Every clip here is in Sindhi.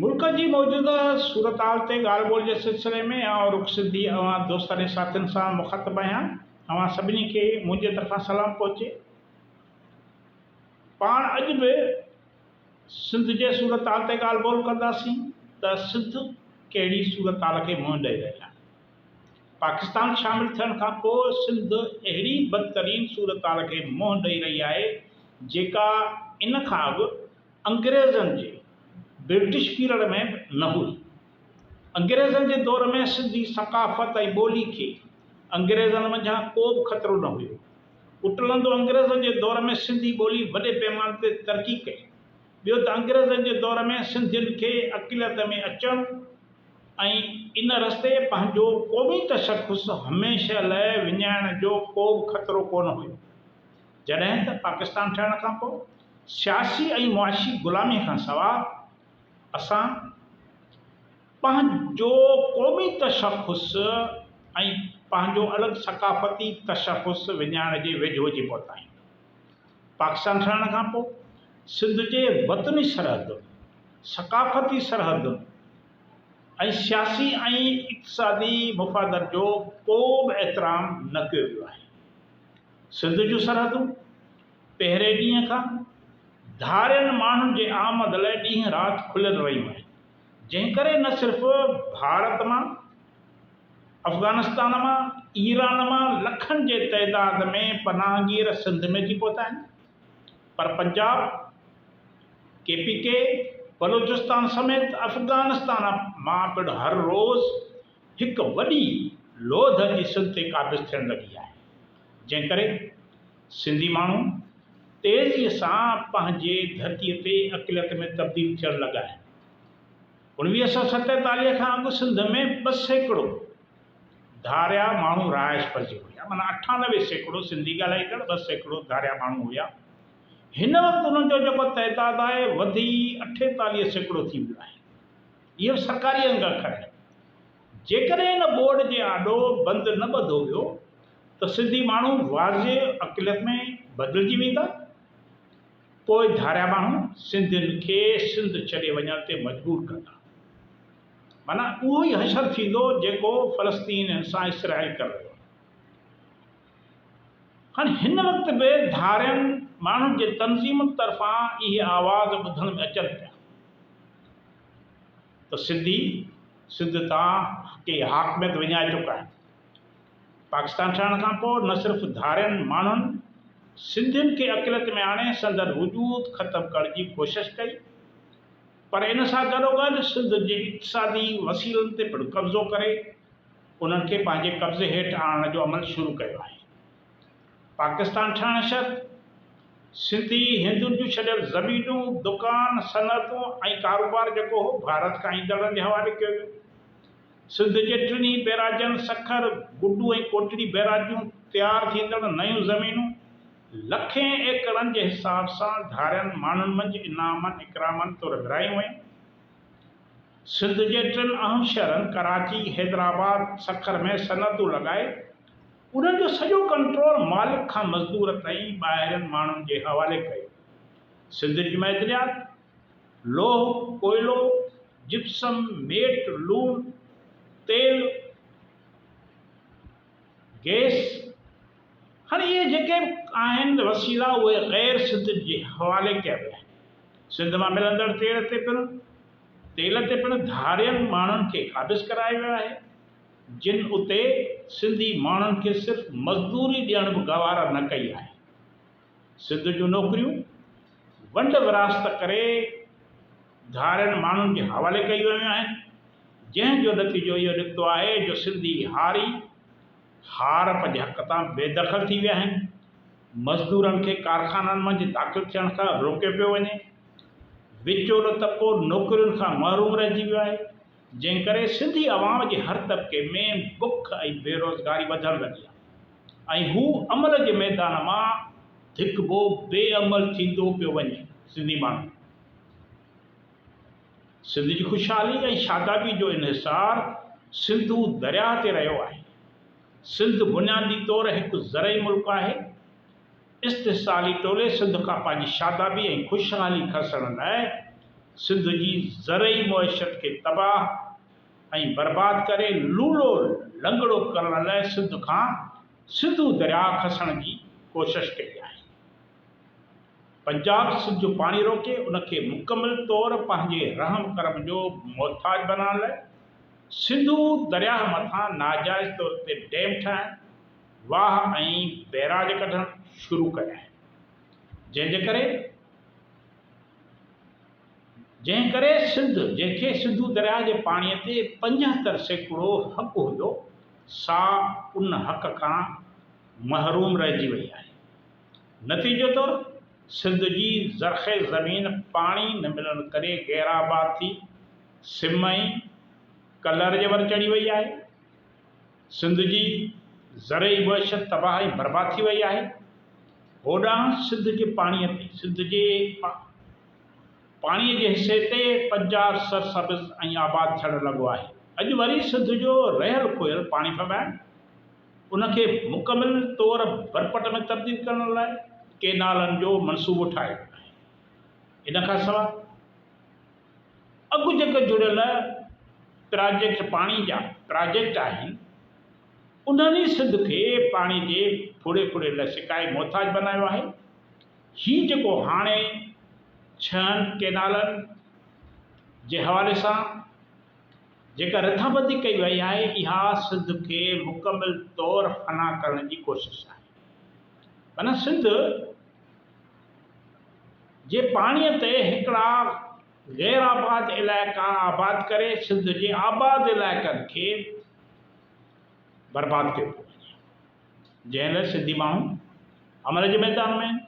ملڪ جي موجوده صورتحال تي ڳالهه ٻولهه جي سلسلي ۾ آئون رخ سنڌي اوهان دوستاڻي ساٿين سان مخاطب آهيان اوهان سڀني کي منهنجي طرفان سلام پهچي پاڻ اڄ به سنڌ جي صورتحال تي ڳالهه ٻولهه ڪنداسين ته سنڌ ڪهڙي صورتحال کي منهن ڏئي رهي آهي پاڪستان شامل ٿيڻ کان پوء سنڌ اهڙي بدترين صورتحال کي منهن ڏئي رهي آهي جيڪا ان کان اڳ انگريزن جي، British Period، ۾ به نه هئي. انگريزن جي دور ۾ سنڌي ثقافت ۽ ٻولي کي انگريزن منجهان ڪو به خطرو نه هيو. اٽلندو انگريزن جي دور ۾ سنڌي ٻولي وڏي پيماني تي ترقي ڪئي. ٻيو ته انگريزن جي دور ۾ سنڌين کي عقليت ۾ اچڻ، ۽ ان رستي پنهنجو قومي تشخص هميشه لئه وڃائڻ جو ڪو به خطرو ڪونه هيو، جڏهن ته پاڪستان ٺهڻ کان پوء سياسي ۽ معاشي غلامي کان سواء اسان پنهنجو قومي تشخص ۽ پنهنجو الڳ ثقافتي تشخص وڃائڻ جي ويجهو اچي پهتائين. پاڪستان ٺهڻ کان پوء سنڌ جي وطني سرحدن، ثقافتي سرحدن ۽ سياسي ۽ اقتصادي مفادن جو ڪو به احترام نه ڪيو ويو آهي. سنڌ جون سرحدون پهرين ڏينهن کان ڌارين ماڻهن جي آمد لاء ڏينهن رات کليل رهيون آهن، جنهن ڪري نه صرف ڀارت مان افغانستان مان ايران مان لکن جي تعداد ۾ پناهگير سنڌ ۾ اچي پهتا آهن پر Punjab, K P K, Balochistan سميت افغانستان مان پڻ هر روز هڪ وڏي لوڌ اچي سنڌ تي قابض ٿيڻ لڳي آهي جنهن ڪري سنڌي ماڻهو تيزي سان پنهنجي ڌرتي تي اقليت ۾ تبديل ٿيڻ لڳا آهن. اوڻويهه سؤ ستيتاليهه کان اڳ سنڌ ۾ ٻه سيڪڙو ڌاريا ماڻهو رهائش پذير هيا، معنيٰ اٺانوي سيڪڙو سنڌي ڳالهائيندڙ، ٻه سيڪڙو ڌاريا ماڻهو هيا. هن وقت انهن جو جيڪو تعداد آهي، وڌي اٺيتاليهه سيڪڙو ٿي ويو آهي. اهي به سرڪاري انگ اکر آهن. جيڪڏهن ان ٻوڏ جي آڏو بند نه ٻڌو ويو ته سنڌي ماڻهو واضح اقليت ۾ بدلجي ويندا. پوء ڌاريا ماڻهو سنڌين کي سنڌ ڇڏي وڃڻ تي مجبور ڪندا. معنيٰ اهو ئي حشر ٿيندو جيڪو فلسطين سان اسرائيل ڪري رهيو آهي. هاڻ هن وقت به ڌارين ماڻهن جي تنظيمن طرفان اهي آواز ٻڌڻ ۾ اچن پيا ته سنڌي سنڌ تان ڪي حاڪميت وڃائي چڪا آهن. پاڪستان ٺهڻ کان پوء نه صرف ڌارين ماڻهن سنڌين کي عقليت ۾ آڻي سندن وجود ختم ڪرڻ جي ڪوشش ڪئي پر ان سان گڏوگڏ سنڌ جي اقتصادي وسيلن تي پڻ قبضو ڪري انهن کي پنهنجي قبضي هيٺ آڻڻ جو عمل شروع ڪيو آهي. پاڪستان ٺهڻ شرط سنڌي هندن جون ڇڏيل زمينون، دڪان، صنعتون ۽ ڪاروبار جيڪو هو ڀارت کان ايندڙن جي حوالي ڪيو ويو. سنڌ جي ٽنهي بئراجن سکر، گڊو ۽ ڪوٽڙي بئراج جون تيار ٿيندڙ نيون زمينون لکين ايڪڙن جي حساب سان ڌارين ماڻهن منجهه انعامن اڪرامن طور ورهايون ويون. سنڌ جي ٽن اهم شهرن ڪراچي، حيدرآباد، سکر ۾ صنعتون لڳائي انهن جو سڄو ڪنٽرول مالڪ کان مزدور تائين ٻاهرين ماڻهن جي حوالي ڪيو. سنڌ جي معدنيات لوهه، ڪوئلو، جپسم، ميٽ، لوڻ، تيل، گئس، هاڻي اهي جيڪي به آهن وسيلا اهي غير سنڌين جي حوالي ڪيا ويا آهن. سنڌ مان ملندڙ تيل تي پڻ تيل تي پڻ ڌارين ماڻهن کي قابض ڪرايو ويو آهي جن اتي سنڌي ماڻهن کي صرف مزدوري ڏيڻ به گوارا نه ڪئي آهي. سنڌ جون نوڪريون ونڊ ورهاست ڪري ڌارين ماڻهن جي حوالي ڪيون ويون آهن، جنهن جو نتيجو اهو نڪتو آهي جو سنڌي هاري هار پنهنجي حق تان بي دخل ٿي ويا آهن، مزدورن کي ڪارخانن منجهه داخل ٿيڻ کان روڪيو پيو وڃي، وچولو طبقو نوڪرين کان محروم رهجي ويو آهي. جنهن ڪري سنڌي عوام جي هر طبقي ۾ بک ۽ بيروزگاري وڌڻ لڳي آهي ۽ هو عمل جي ميدان مان ڌڪبو بي عمل ٿيندو پيو وڃي سنڌي ماڻهو سنڌ جي خوشحالي ۽ شادابي جو انحصار سنڌو درياهه تي رهيو آهي سنڌ بنيادي طور هڪ زرعي ملڪ آهي. استحصالي ٽولي سنڌ کان پنهنجي شادابي ۽ خوشحالي کسڻ لاء سنڌ جي زرعي معيشت کي تباهه ۽ برباد ڪري لولو لنگڙو ڪرڻ لاء سنڌ کان سنڌو درياء کسڻ جي ڪوشش ڪئي آهي. پنجاب سنڌ جو پاڻي روڪي ان کي مڪمل طور پنهنجي رحم ڪرم جو محتاج بنائڻ لاء سنڌو درياهه مٿان ناجائز طور تي ڊيم ٺاهڻ، واهه ۽ بئراج ڪڍڻ شروع ڪيا آهن جنهن جي ڪري جنهن ڪري سنڌ جنهن کي سنڌو درياهه جي پاڻي تي پنجهتر سيڪڙو حق هيو سا ان حق کان محروم رهجي وئي آهي نتيجي طور سنڌ جي زرخيز زمين پاڻي نه ملڻ ڪري غير آباد ٿي سم ۽ ڪلر جي ور چڙهي وئي آهي. سنڌ جي زرعي معيشت تباهه ۽ برباد ٿي وئي آهي. هوڏانهن سنڌ جي پاڻي تي، سنڌ جي پاڻي جي حصي تي پنجاب سرسبز ۽ آباد ٿيڻ لڳو آهي. اڄ وري سنڌ جو رهيل کوهيل پاڻي ڦٻائڻ، ان کي مڪمل طور برپٽ ۾ تبديل ڪرڻ لاء ڪينالن جو منصوبو ٺاهيو ويو آهي. ان کان سواء. اڳ جيڪي جڙيل پراجيڪٽ پاڻي جا پراجيڪٽ آهن انهن ئي سنڌ کي پاڻي جي ڦڙي ڦڙي لاء سڪائي محتاج بنايو آهي، هي جيڪو هاڻي ڇهن ڪينالن جي حوالي سان جيڪا رٿابندي ڪئي وئي آهي اها سنڌ کي مڪمل طور فنا ڪرڻ جي ڪوشش آهي، معنيٰ سنڌ جي پاڻي تي هڪڙا غير آباد علائقا آباد ڪري سنڌ جي آباد علائقن کي برباد ڪيو پيو وڃي جنهن لاء سنڌي ماڻهو عمل جي ميدان ۾ آهن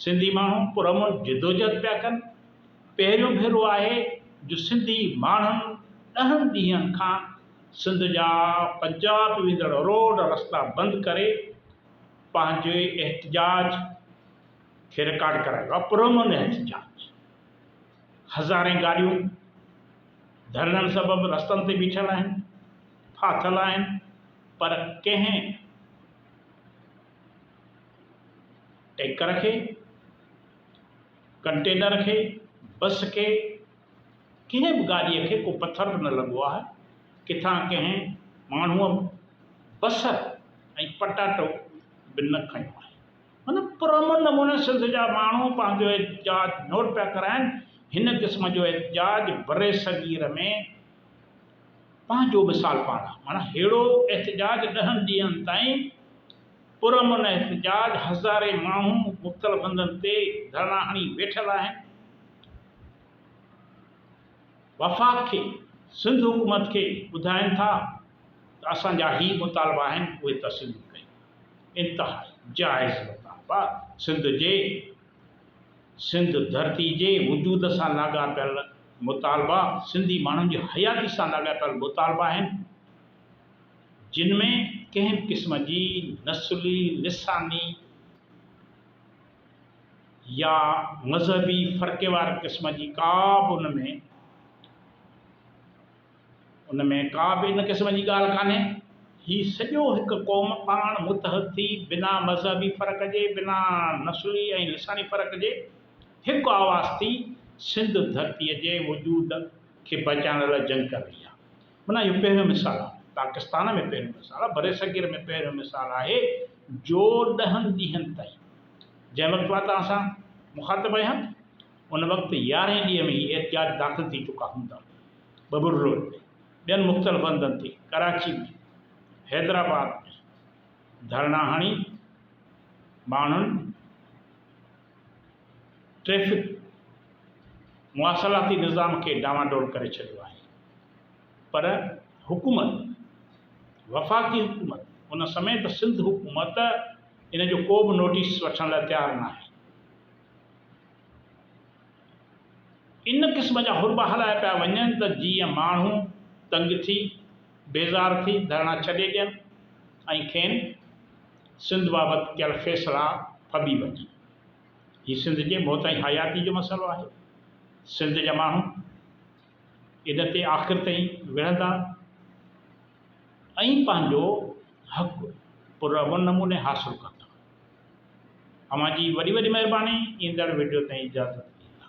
سنڌي ماڻهو پرامن جدوجهد پيا ڪن پهريون ڀيرو آهي جو سنڌي ماڻهن ڏهن ڏينهن کان سنڌ جا پنجاب ويندڙ روڊ رستا بند ڪري پنهنجو ئي احتجاج کي رڪارڊ ڪرايو آهي پرامن احتجاج هزارين گاڏيون ڌرڻن سبب رستن تي بيٺل آهن ڦاٿل آهن پر ڪنهن ٽينڪر کي ڪنٽينر کي بس کي ڪنهن به گاڏيء کي ڪو پٿر به نه لڳو آهي، ڪٿان ڪنهن ماڻهوء بصر ۽ پٽاٽو به نه کنيو آهي. معنيٰ پرامن نموني سنڌ جا ماڻهو پنهنجو احتجاج نوٽ پيا ڪرائين، هن قسم جو احتجاج برصغير ۾ پنهنجو مثال پاڻ آهي، معنيٰ ههڙو احتجاج ڏهن ڏينهن تائين پرامن احتجاج، هزارين ماڻهو مختلف هنڌن تي ڌرڻا هڻي ويٺل آهن، وفاق کي سنڌ حڪومت کي ٻڌائين ٿا ته اسان جا هي مطالبا آهن اهي تسليم ڪيو، انتهائي جائز مطالبا سنڌ جي سنڌ ڌرتي جي وجود سان لاڳاپيل مطالبا سنڌي ماڻهن جي حياتي سان لاڳاپيل مطالبا آهن، جن ۾ ڪنهن به قسم جي نسلي، لساني يا مذهبي فرقي واري قسم جي ڪا به ان ۾ ان ۾ ڪا به ان قسم جي ڳالهه ڪانهي. هي سڄو هڪ قوم پاڻ متحد ٿي بنا مذهبي فرق جي، بنا نسلي ۽ لساني فرق جي هڪ آواز ٿي سنڌ ڌرتيء جي وجود کي بچائڻ لاء جنگ ڪري رهي آهي. معنيٰ اهو پهريون مثال آهي، پاڪستان ۾ پهريون مثال آهي، برصغير ۾ پهريون مثال آهي جو ڏهن ڏينهن تائين جنهن وقت مان توهان سان مخاطب آهيان ان وقت يارهين ڏينهن ۾ هي احتجاج داخل ٿي چڪا هوندا، ببر روڊ تي، ٻين مختلف هنڌن تي، ڪراچي ۾، حيدرآباد ۾ ڌرڻا هڻي ماڻهن. ٽريفڪ مواصلاتي نظام کي ڊانواڊول ڪري ڇڏيو آهي پر حڪومت وفاقي حڪومت ان سميت سنڌ حڪومت ان جو ڪو به نوٽيس وٺڻ لاء تيار ناهي ان قسم جا حربا هلايا پيا وڃن ته جيئن ماڻهو تنگ ٿي بيزار ٿي ڌرڻا ڇڏي ڏين ۽ کين سنڌ بابت ڪيل فيصلا ڦٻي وڃن. هي سنڌ جي موت ۽ حياتي جو مسئلو آهي. سنڌ جا ماڻهو ان تي آخر تائين وڙهندا ۽ پنهنجو حق پرامن نموني حاصل ڪندا. اوهان جي وڏي وڏي مهرباني ايندڙ وڊيو تائين اجازت ڏيندا.